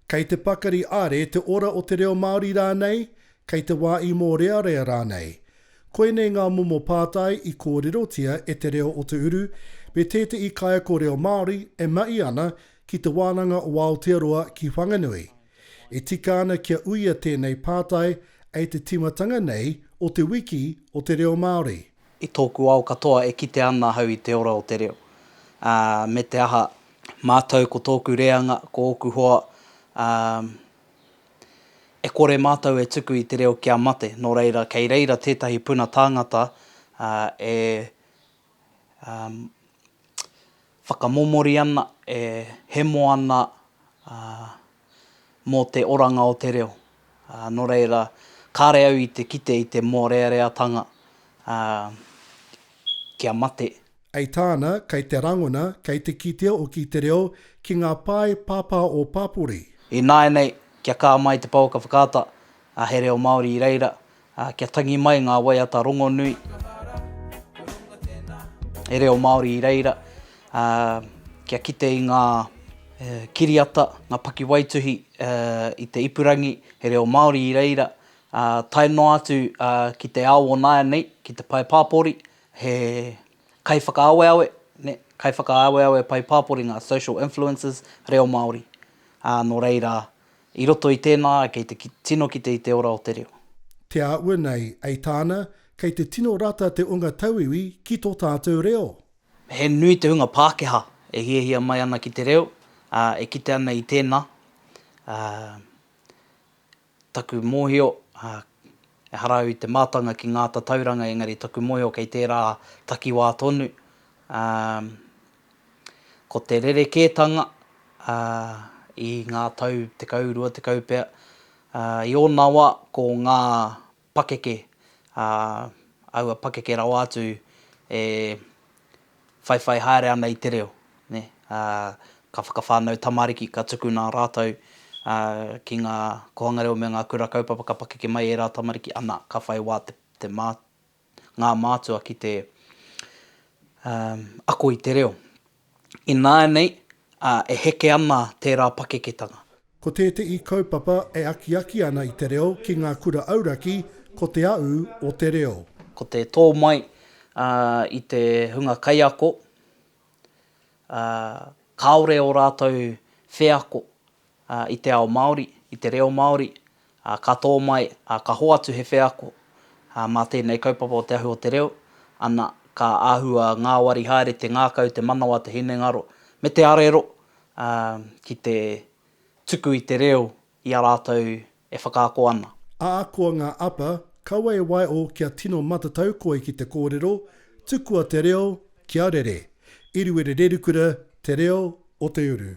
Kei te pakari are te ora o te reo Māori rānei, kei te wā i mōrearea rānei. Koinei ngā momo pātai i kōrerotia e Te Reo o Te Uru me tētehi kaiako reo Māori e mahi ana ki Te Wānanga o Aotearoa ki Whanganui, E tika ana kia uia tēnei pātai e te tīmatanga nei o Te Wiki o te Reo Māori. I tōku ao katoa e kite ana ahau i te ora o te reo, ā, me te aha, mātou ko tōku reanga, ko ōku hoa, ā, e kore mātou e tuku i te reo kia mate, nō reira kei reira tētahi puna tāngata, ā, e whakamomori ana, e hemo ana mō te oranga o te reo. Nō reira, kāre au i te kite i te mōreareatanga kia mate. I tāna, kei te rangona, kei te kitea hoki te reo ki ngā pae pāpā o pāpori. Ināianei, kia kā mai te pouaka whakaata, he reo Māori i reira, ā, kia tangi mai ngā waiata rongonui e reo Māori i reira, ā, kia kite i ngā kiriata, ngā pakiwaituhi i te ipurangi he reo Māori i reira, ā, tae noa atu ki te ao o nāianei, ki te pae pāpori, he kaiwhakaaweawe, nē, kaiwhakaaweawe pae pāpori ngā social influencers reo Māori, ā, nō reira, I roto i tēnā, kei te tino kite i te ora o te reo. Te āhua nei, ei tāna, kei te tino rata te onga tauiwi ki tō tātou reo. He nui te hunga Pākehā e hiahia mai ana ki te reo, ā, e kite ana i tēnā. Ā, taku mōhio, ā, ehara au i te mātanga ki ngā tatauranga engari taku mōhio kei tērā takiwā tonu, ā, Ko te rerekētanga i ngā tau tekau, rua tekau pea, i ōna wā ko ngā pakeke, aua pakeke rawa atu e whaiwhai haere ana i te reo. Ka whakawhānau tamariki, ka tukuna rātou ki ngā kōhanga reo me ngā kura kaupapa, ka pakeke mai ērā tamariki, ana, ka whai wā te ngā mātua ki te ako i te reo. Ināianei e heke ana tērā pakeketanga. Ko tētehi kaupapa e akiaki ana i te reo ki ngā kura auraki ko Te Aū o te Reo. Ko te tō mai i te hunga kaiako, kāore ō rātou wheako i te ao Māori, i te reo Māori, ka tō mai, ka hoatu he wheako mā tēnei kaupapa o Te Ahu o te Reo, ana, ka āhua ngāwari haere te ngākau, te manawa, te hinengaro, me te arero ki te tuku i te reo i a rātou e whakaako ana. Ā, koa ngā apa, kaua e waeʻo kia tino matatau koe ki te kōrero, tukua te reo kia rere. Eruere Rerukura, Te Reo o te Uru.